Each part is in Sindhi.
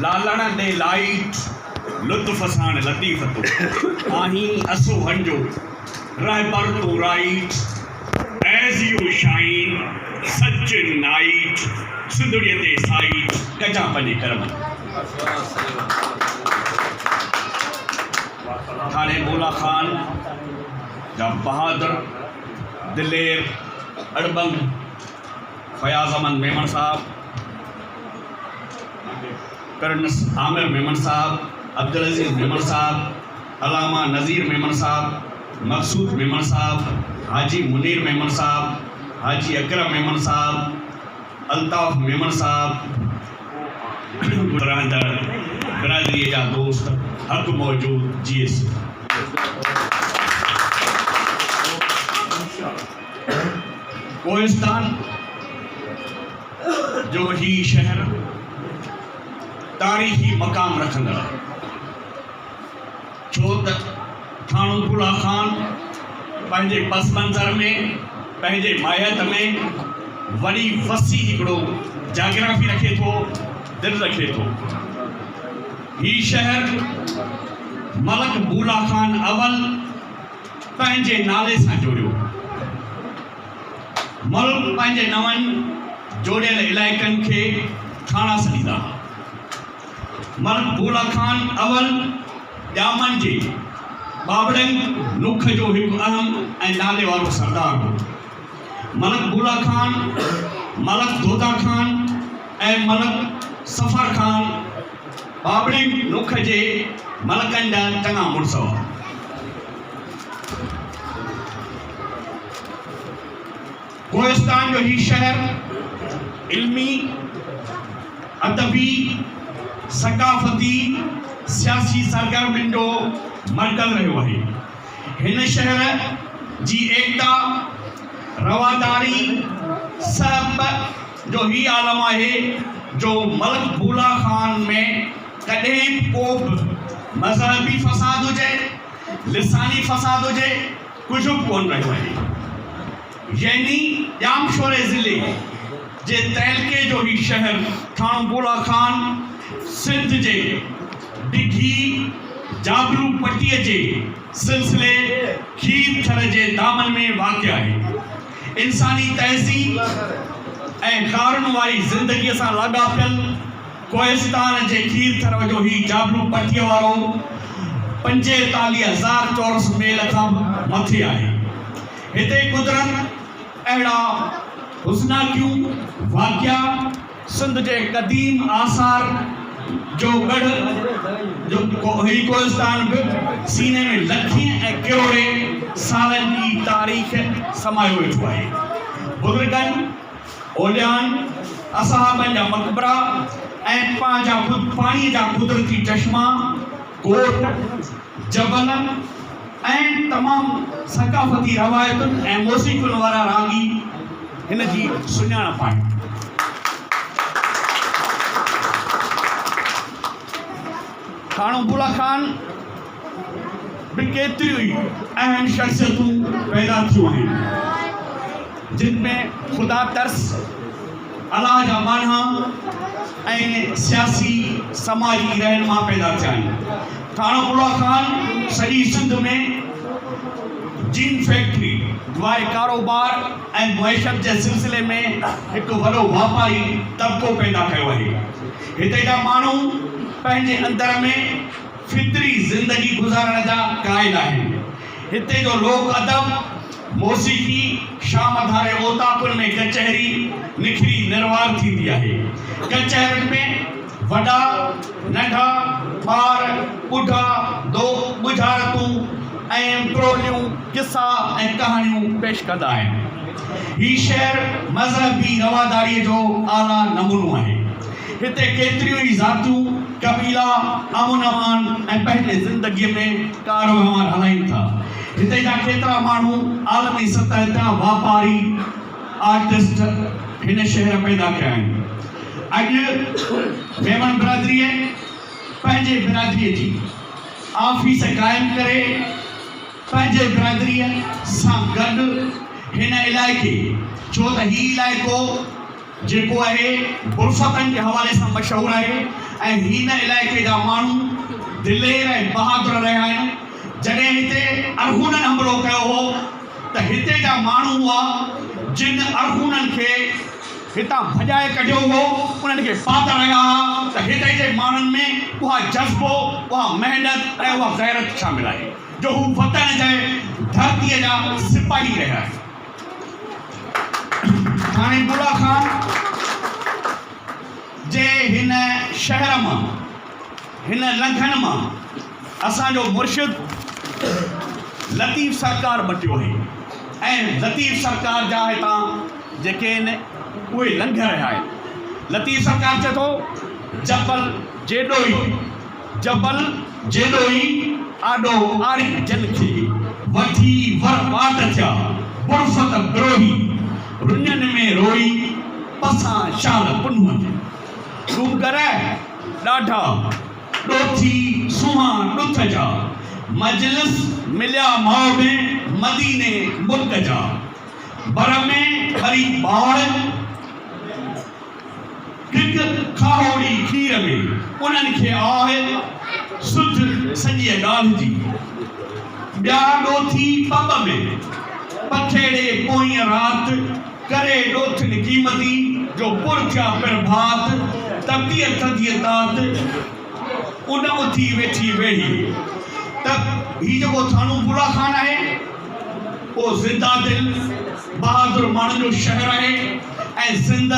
لالڻ ڏي لائيٽ لطف ساڻ لطيف تون آهين اسوهن جو رهبر تون right as you shine such in night سنڌڙي تي سائيٽ ڪجان پنهنجي ڪرمن ٿاڻي بولا خان جا بهادر دلير اڙٻنگ فياض احمد ميمڻ صاحب، پرنس عامر ميمڻ صاحب، عبدالعزيز ميمڻ صاحب، علامه نذير ميمڻ صاحب، مقصود ميمڻ صاحب، حاجي منير ميمڻ صاحب، حاجي اڪرم ميمڻ صاحب، الطاف ميمڻ صاحب، رهندڙ برادري جا دوست هٿ موجود جي ايس. ڪوهستان جو هي شهر تاريخي مقام رکندڙ آهي ڇو ته ٿاڻوپوڙا خان پنهنجي پس منظر ۾ پنهنجي ماهيت ۾ وڏي وسيع هڪڙو جاگرافي رکي ٿو دل رکي ٿو هي شهر ملڪ بولا خان اول پنهنجي نالي سان جوڙيو. ملڪ پنهنجي نون جوڙيل علائقن کي ٿاڻا سڏيندا ها. ملڪ ڀولا خان اول ڄامن جي ٻاٻڙنگ نوک جو هڪ اهم ۽ نالي وارو سردار هو. ملڪ ڀولا خان، ملڪ دودا خان ۽ ملڪ صفر خان، ٻاٻڙي نوک جي ملڪن جا چڱا مڙس هئا. ڪوهستان جو هي شهر علمي، ادبي، ثقافتي، سياسي سرگرمين جو مرڪز رهيو آهي. هن شهر جي ايڪتا، رواداري، سهپ، جو هي عالم آهي جو ملڪ بولا خان ۾ ڪڏهن به ڪو به مذهبي فساد هجي، لساني فساد هجي، ڪجهه به ڪونه رهيو آهي. يعني ڄامشوري ضلعي جي تعلقي جو هي شهر ٿاڻو بولا خان سنڌ جي ڊگهي جابلو پٽي جي سلسلي کير ٿر جي دامن ۾ واقع آهي. انساني تهذيب ۽ ڪارن واري زندگيء سان لاڳاپيل ڪوهستان جي کير ٿر جو هي جابلو پٽيء وارو پنجيتاليهه هزار چورس ميل کان به مٿي آهي. هتي قدرت اهڙا حسناڪيون واقعا، سنڌ جي قديم آثار جو ڳڙهه جو هي ڪوهستان به سيني ۾ لکين ۽ ڪروڙين سالن جي تاريخ سمايو ويٺو آهي. بزرگن، اوليائن، اصحابن جا مقبرا ۽ پنهنجا خود پاڻيء جا قدرتي چشما، ڳوٺ، جبلن ۽ تمام ثقافتي روايتن ۽ موسيقين وارا راڳي هن جي سڃاڻپ آهن. ٿاڻو بولا خان به ڪيتريون ئي اهم شخصيتون پيدا ٿيون آهن، جن ۾ خدا ترس، الله جا ماڻها ۽ سياسي سماجي رهنما پيدا ٿيا آهن. ٿاڻو ٻڙا خان سڄي سنڌ ۾ جين فيڪٽري واري ڪاروبار ۽ معيشت جي سلسلي ۾ هڪ وڏو واپاري طبقو پيدا ڪيو آهي. هتي جا ماڻهو پنهنجي اندر ۾ فطري زندگي گذارڻ جا قائل آهن. هتي جو لوڪ ادب، موسيقي، شام ڌاري اوطاقن ۾ ڪچهري نکري نروار ٿيندي آهي. ڪچهرين ۾ وڏا، ننڍا، ٻار، ٻڍا، دوء، ٻجهارتون ۽ ٽوليون قصا ۽ ڪهاڻيون پيش ڪندا آهن. هي شهر مذهبي رواداريء جو اعليٰ نمونو آهي. هتي ڪيتريون ئي ذاتيون، قبيلا امن امان ۽ پنهنجي زندگيء ۾ ڪاروهنوار هلائين ٿا. هتي جا ڪيترا ماڻهو عالمي سطح جا واپاري، آرٽسٽ هن شهر پيدا ڪيا آهن. اڄ ميمڻ برادريء پنهنجي برادريء جي آفيس قائم ڪري پنهنجي برادريء سان گڏ هن علائقي ڇو ته هي علائقو، جيڪو اهي برفتن جي حوالي سان مشهور آهي ۽ هين علائقي جا ماڻهو دلير ۽ بهادر رهيا آهن. جڏهن هتي ارغونن حملو ڪيو هو ته هتي جا ماڻهو هئا جن ارغونن کي هتان ڀڄائي ڪڍيو هو انهن کي پاڌر رهيا ها ته هتي جي ماڻهن ۾ اها جذبو اها محنت ۽ اها غيرت شامل آهي جو هو وطن جي ڌرتي جا سپاهي رهيا آهن. ڌاڻي بولا خان جي هن شهر مان، هن لنگهن مان اسان جو مرشد لطيف سرڪار مٽيو آهي ۽ لطيف سرڪار جا هتان جيڪي آهن اهي لنگهه رهيا آهن. لطيف سرڪار چئي ٿو جبل جيڏو ئي جبل جيڏو ئي آڏو آري جل کي وٺي ور واٽ ٿيا برفت بروهي رڃن ۾ روئي پسان شال پنهون جي ڏونگر ڏاڍا ڏوٿي سونهان ڏٿ جا مجلس مليا ماء ۾ مديني ملڪ جا بر ۾ ٻري ٻاڙ هڪ کاهوڙي کير ۾ انهن کي آهه سجهه سڄيء ڳالهه جي. ٻيا ڏوٿي پٻ ۾، پڇيڙي پوئين رات، ڪري ڏوٿين قيمتي جو پر ٿيا پرڀات، ته پيء ٿڌيء تات، ان اٿي ويٺي ويڙهي، ته هي جيڪو ٿانو ڦولا خان آهي، اهو زنده دل، بهادر ماڻهن جو شهر آهي. ۽ سنڌ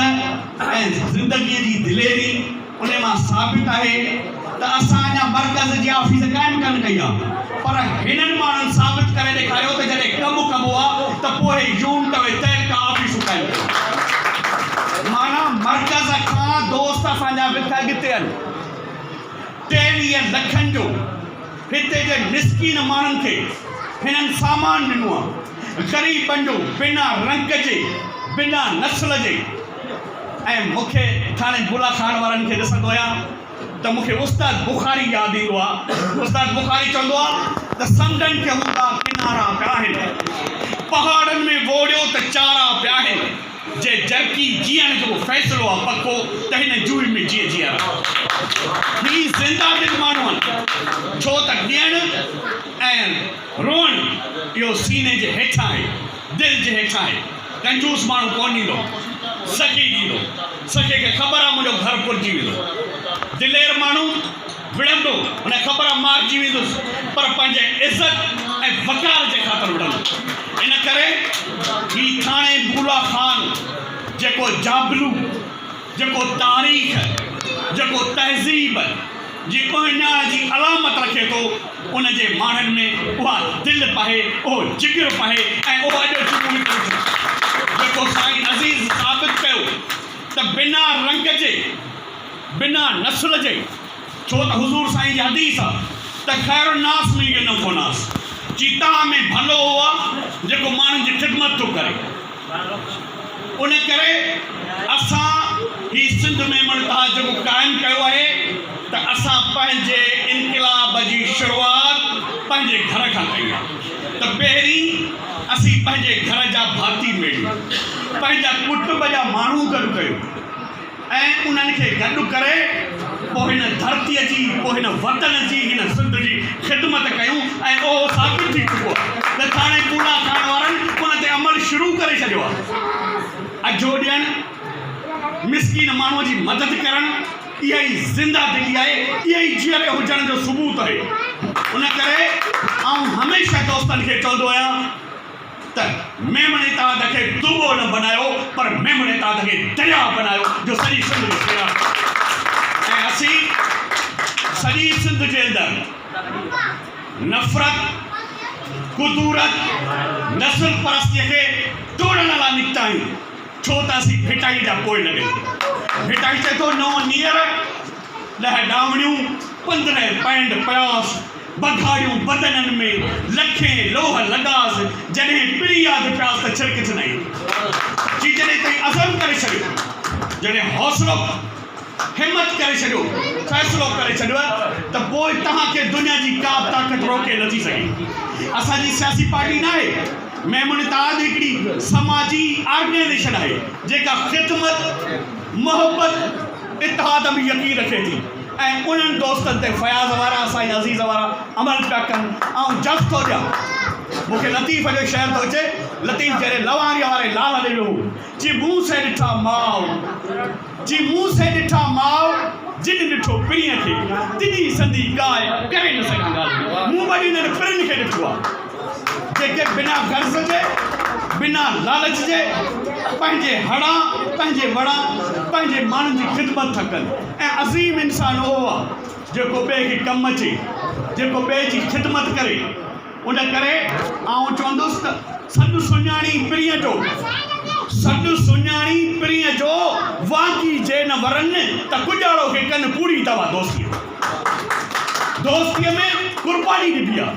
۽ زندگيء جي دليري انهي مان ثابت آهي ته اسان اڃا مرڪز جي آفيس قائم ڪانه ڪئي آ پر هنن ماڻهن ثابت ڪري ڏيکاريو ته جڏهن ڪم ڪبو آ ته پوء يونٽ ۽ تعلقه آفيسون قائم ڪيون معنيٰ مرڪز کان دوست اسان جا وٿ اڳتي آهن ٽيويهه لکن جو هتي جي مسڪين ماڻهن کي هنن سامان ڏنو آهي. غريبن جو بنا رنگ جي، بنا نسل جي ۽ مون کي ٿاڻي بولا خان وارن کي ڏسندو آهيان ته مون کي استاد بخاري ياد ايندو آهي. استاد بخاري چوندو آهي ته سمنڊن کي هوندا ڪنارا پيا آهن. پهاڙن ۾ ووڙيو ته چارا پيا آهن. جي جرڪي جيئڻ جو فيصلو آ پڪو ته هن جوئي ۾ جيئي جيئي رهو هي زنده دل ماڻهو آهن ڇو ته ڏيڻ ۽ روئڻ اهو سيني جي هيٺان آهي دل جي هيٺان آهي ڪنجوس ماڻهو ڪونه ڏيندو سخي ڏيندو سخي کي خبر آ منهنجو گهر پورجي ويندو دلير ماڻهو وڙهندو هن خبر مارجي ويندس پر پنهنجي عزت ۽ وقار جي خاطر وڙهندو ان ڪري هي ٿاڻي بولا خان جيڪو جابلو جيڪو تاريخ جيڪو تهذيب جي اهڃاڻ جي علامت رکي ٿو ان جي ماڻهن ۾ اها دل پهي اهو جگر پهي ۽ اهو اڄ جمهوري پرجوش جيڪو سائين عزيز ثابت ڪيو ته بنا رنگ جي بنا نسل جي، ڇو ته حضور سائين جي حديث آ ته خير الناس من ينوف الناس، چي توهان ۾ ڀلو اهو آ جيڪو ماڻهن جي خدمت ٿو ڪري. ان ڪري اسان هي سنڌ ۾ منتها جيڪو قائم ڪيو آهي ته اسان پنهنجي انقلاب جي شروعات پنهنجي گهر کان ڪئي آ ته پهرين اسين پنهنجي گهر جا ڀاتي ميڙيون، پنهنجا ڪٽنب جا ماڻهو گڏ ڪيون. ۽ انهن کي گڏ ڪري پوء هن ڌرتيء جي، پوء هن وطن جي، هن سنڌ جي خدمت ڪيون ۽ اهو ثابت ٿي چڪو آهي ته ٿاڻي ڪوڏا کائڻ وارن ان تي عمل شروع ڪري ڇڏيو آهي. اجهو ڏيڻ، مسڪين ماڻهوء جي مدد ڪرڻ، اها ئي زنده دلي آهي، اها ئي جيئري هجڻ جو ثبوت آهي. ان ڪري آئون هميشه دوستن کي چوندو آهيان. ته ميمڻي تاند کي دوٻو نه بنايو پر ميمڻي تاند کي درياء بنايو جو سڄي سنڌ کي سيراب ڪري ۽ اسين سڄي سنڌ جي اندر نفرت ڪدورت نسل پرستي کي ٽوڙڻ لاء نڪتا آهيون ڇو ته اسين ڀٽائي جا پوئي لڳل آهيون ڀٽائي چئي ٿو نو نيئر ڏهه ڏامڙيون پندرهن پينڊ پياس بگهاڙيون بدنن ۾ لکين لوهه لڳاس جڏهن پري ياد پياس ته ڇرڪجن ۽ جي جڏهن تائين عزم ڪري ڇڏيو جڏهن حوصلو همت ڪري ڇڏيو فيصلو ڪري ڇڏيو ته پوء توهان کي دنيا جي ڪا به طاقت روڪي نٿي سگهي اسان جي سياسي پارٽي ناهي ميمڻ اتحاد هڪڙي سماجي آرگنائيزيشن آهي جيڪا خدمت محبت اتحاد ۾ يقين رکي ٿي ۽ انهن دوستن تي فياض وارا سائين عزيز وارا عمل پيا ڪن آئون جس ٿو ڏيان مون کي لطيف جو شعر ٿو اچي لطيف جهڙي لوهاريء واري لال ڏي ويو جي مون سين ڏٺا ماء جي مون سين ڏٺا ماء جن ڏٺو پرينء کي تنهن سندي ڳائي ڪري نه سگهان ڳالهه مون وڏي انهن پرين کي ڏٺو آ. جيڪي بنا غرض جي، بنا لالچ جي، پنهنجي هڙان، پنهنجي وڙان، پنهنجي ماڻهن جي خدمت ٿا ڪن ۽ عظيم انسان اهو آهي، جيڪو ٻئي کي ڪم اچي، جيڪو ٻئي جي خدمت ڪري. ان ڪري آئون چوندس ته سڏ سڃاڻي پرينء جو، سڏ سڃاڻي پرينء جو، واڪي جي نه ورن ته ڪڄاڙو کي ڪن ڪوڙي دوا دوسيء. دوستيء ۾ قرباني ڏبي آ،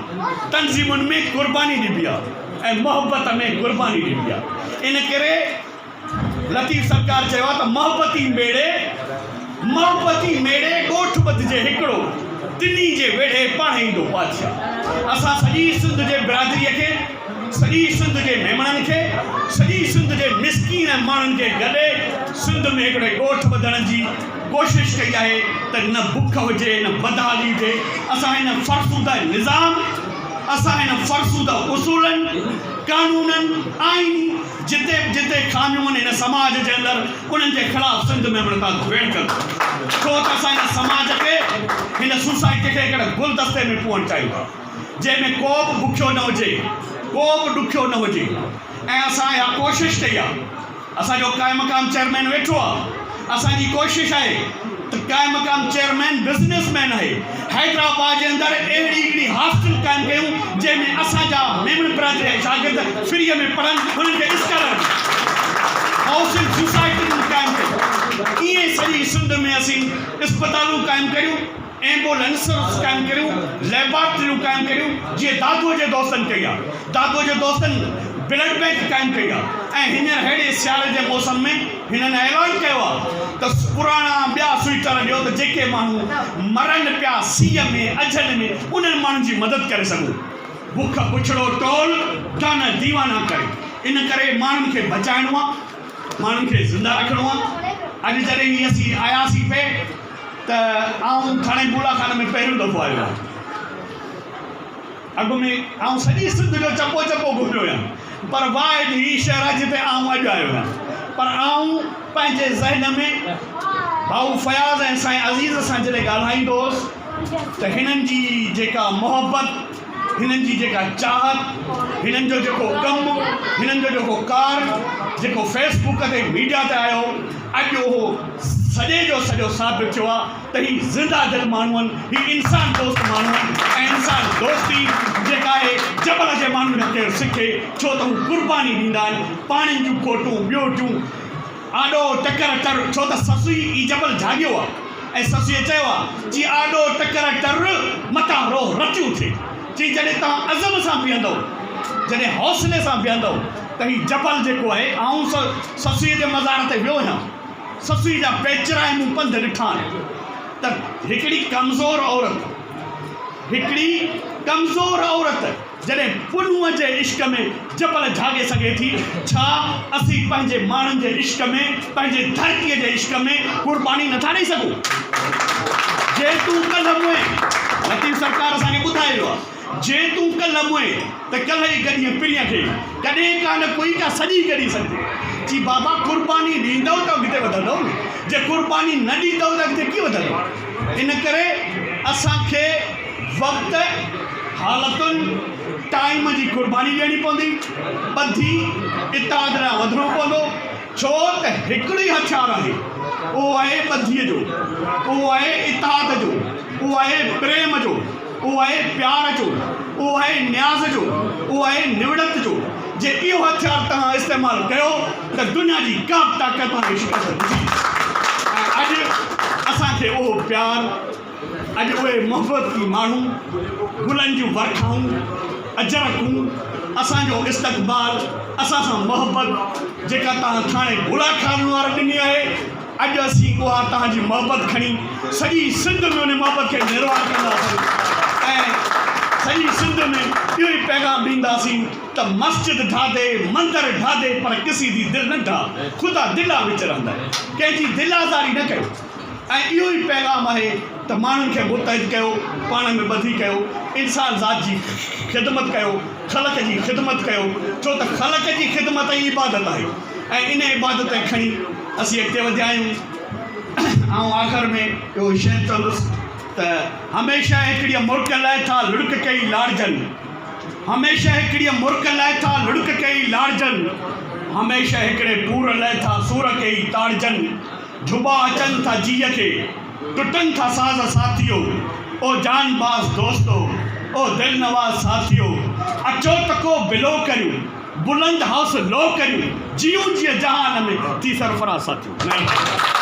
تنظيمن ۾ قرباني ڏبي آ ۽ محبت ۾ قرباني ڏبي آ. ان ڪري لطيف سرڪار چيو آ ته محبتي ميڙي محبتي ميڙي ڳوٺ ٻڌجي هڪڙو، ٽنهي جي ويڙهي پاڻ ايندو بادشاهه. اسان سڄي سنڌ جي برادريء کي، سڄي سنڌ جي ميمڻن کي، سڄي سنڌ جي مسڪين ماڻهن کي گڏي سنڌ ۾ هڪڙي ڳوٺ ٻڌڻ جي، ڪوشش ڪئي آهي ته نه بک هجي نه بدحالي هجي اسان هن فرسوده نظام اسان هن فرسوده اصولن قانونن آئيني جتي به جتي خاميون آهن هن سماج جي اندر انهن جي خلاف سنڌ ۾ هاڻي ٿا ڌوئڻ ڪن ڇو ته اسان هن سماج کي هن سوسائٽي کي هڪڙي گلدستي ۾ پوئڻ چاهيون ٿا جنهن ۾ ڪو به بکيو نه هجي ڪو به ڏکيو نه هجي ۽ اسان اها ڪوشش ڪئي آهي اسان جو قائمقام چيئرمين ويٺو آ اسان جي ڪوشش آهي ته قائمقام چيئرمين بزنس مين آهي حيدرآباد جي اندر اهڙي هڪڙي هاسٽل قائم ڪيون جنهن ۾ اسان جا ميمڻ برادري جا شاگرد فري ۾ پڙهن انهن کي اسڪالر هائوسنگ سوسائٽي قائم ڪيون ائين سڄي سنڌ ۾ اسين اسپتالون قائم ڪريون ايمبولينسز قائم ڪريون، ليبارٽريون قائم ڪريون جيئن دادوء جي دوستن ڪئي آ، دادوء جي دوستن بلڊ بئنڪ قائم ڪئي آ ۽ هينئر ههڙي سياري جي موسم ۾ هنن اعلان ڪيو آ ته پراڻا ٻيا سوئيٽر ڏيو ته جيڪي ماڻهو مرن پيا سيء ۾ اجهن ۾ انهن ماڻهن جي مدد ڪري سگهون. بک بڇڙو ٽول ٽانه ديوانا ڪري ان ڪري ماڻهن کي بچائڻو آ، ماڻهن کي زنده رکڻو آ، اڄ جڏهن هي اسين آياسين پئي، ته آئون ٿاڻي ٻوڙا خانه ۾ پهريون دفعو آيو آهيان. اڳ ۾ آئون سڄي سنڌ جو چپو چپو گهميو هيم پر واء اڄ هي شهر آهي جتي آئون اڄ آيو هيان پر آئون پنهنجي ذهن ۾ ڀائو فياض ۽ سائين عزيز سان جڏهن ڳالهائيندو هوس ته هنن جي جيڪا محبت هنن جي جيڪا چاهت، هنن جو جيڪو ڪم، هنن جو جيڪو ڪار، جيڪو فيس بڪ تي ميڊيا تي آيو هو، اڄ اهو سڄي جو سڄو ثابت ٿيو آهي ته هي زنده دل ماڻهو آهن، هي انسان دوست ماڻهو آهن ۽ انسان دوستي جيڪا آهي جبل جي ماڻهن کان ڪير سکي ڇو ته هو قرباني ڏيندا آهن، پاڻين جون کوٽون، ٻيو ٽيون. آڏو ٽڪر ٽر، ڇو ته سسئي ئي جبل جهاڳيو آ ۽ سسئي چيو آ، چي آڏو ٽڪر ٽر، متان روح رتيون ٿئي. چي جڏهن توهان عزم سان بيهندؤ، جڏهن حوصلي سان بيهندؤ ته هي جبل جيڪو آهي، آئون سسئي جي مزار تي ويو هيان، سسئي جا پيچرائي مون پنڌ ڏٺا آهن ته هڪڙي ڪمزور عورت، هڪڙي ڪمزور عورت! جڏهن پنهونء جي عشق ۾ جبل جهاڳي سگهي ٿي، ڇا اسين پنهنجي ماڻهن جي عشق ۾، پنهنجي ڌرتيء جي عشق ۾ قرباني نٿا ڏئي سگهون؟ جي تون ڪلهه مئين، لطيف سرڪار اسان کي ٻڌائي ويو آهي، جي تون ڪلهه مئين ته ڪلهه ئي ڳڏينء پرينء کي، ڪڏهن ڪا نه ڪوئي ڪا سڄي ڳڏي سگهجي. چي بابا قرباني ڏيندؤ ته اڳتي وڌندؤ نه، جي قرباني نه ڏيندؤ ته اڳتي ڪيئن وڌندؤ؟ ان ڪري اسان کي وقت. حالتن ٽائيم جي قرباني ڏيڻي پوندي، ٻڌي اتحاد ڏانهن وڌڻو پوندو، ڇو ته هڪڙو ئي هٿيار آهي، اهو آهي ٻڌيء جو، اهو آهي اتحاد جو، اهو آهي پريم جو، اهو آهي پيار جو، اهو آهي نياز جو، اهو آهي نوڙت جو، جي اهو هٿيار توهان استعمال ڪيو ته دنيا جي ڪا به طاقت توهان کي شڪست نه ڏيندي ۽ اڄ اسان کي اهو پيار اڄ اهي محبتي ماڻهو، گلن جون ورکائون، اجرڪون، اسان جو استقبال، اسان سان محبت جيڪا توهان ٿاڻي ڀولا کاوي وارن ڏني آهي، اڄ اسين اها توهان جي محبت کڻي سڄي سنڌ ۾ ان محبت کي نروار ڪنداسين ۽ سڄي سنڌ ۾ اهو ئي پيغام ڏينداسين ته مسجد ڍاڌي، مندر ڍاڌي پر ڪسي دي دل نه ڍا، خدا دلا وچ رهندئ، ڪنهن جي دل آزاري نه ڪيو. ۽ اهو ئي پيغام آهي ته ماڻهن کي متحد ڪيو، پاڻ ۾ ٻڌي ڪيو، انسان ذات جي خدمت ڪيو، خلق جي خدمت ڪيو، ڇو ته خلق جي خدمت ئي عبادت آهي ۽ ان عبادت کي کڻي اسين اڳتي وڌيا آهيون. آئون آخر ۾ اهو ئي شعر چوندس ته هميشه هڪڙيء مرڪ لئه ٿا لڙڪ ڪئي لاڙجن، هميشه هڪڙيء مرڪ لئه ٿا لڙڪ ڪئي لاڙجن، هميشه هڪڙي پور لئه ٿا سور ڪئي تاڙجن. جھٻا اچن ٿا جيء کي، ٽٽن ٿا ساز ساٿيو، او جان باز دوستو، او دل نواز ساٿيو، اچو ته ڪو بلو ڪريون، بلند هائوس لو ڪريون، جيئون جيء جهان ۾ ٿي سرفراز ساٿيو.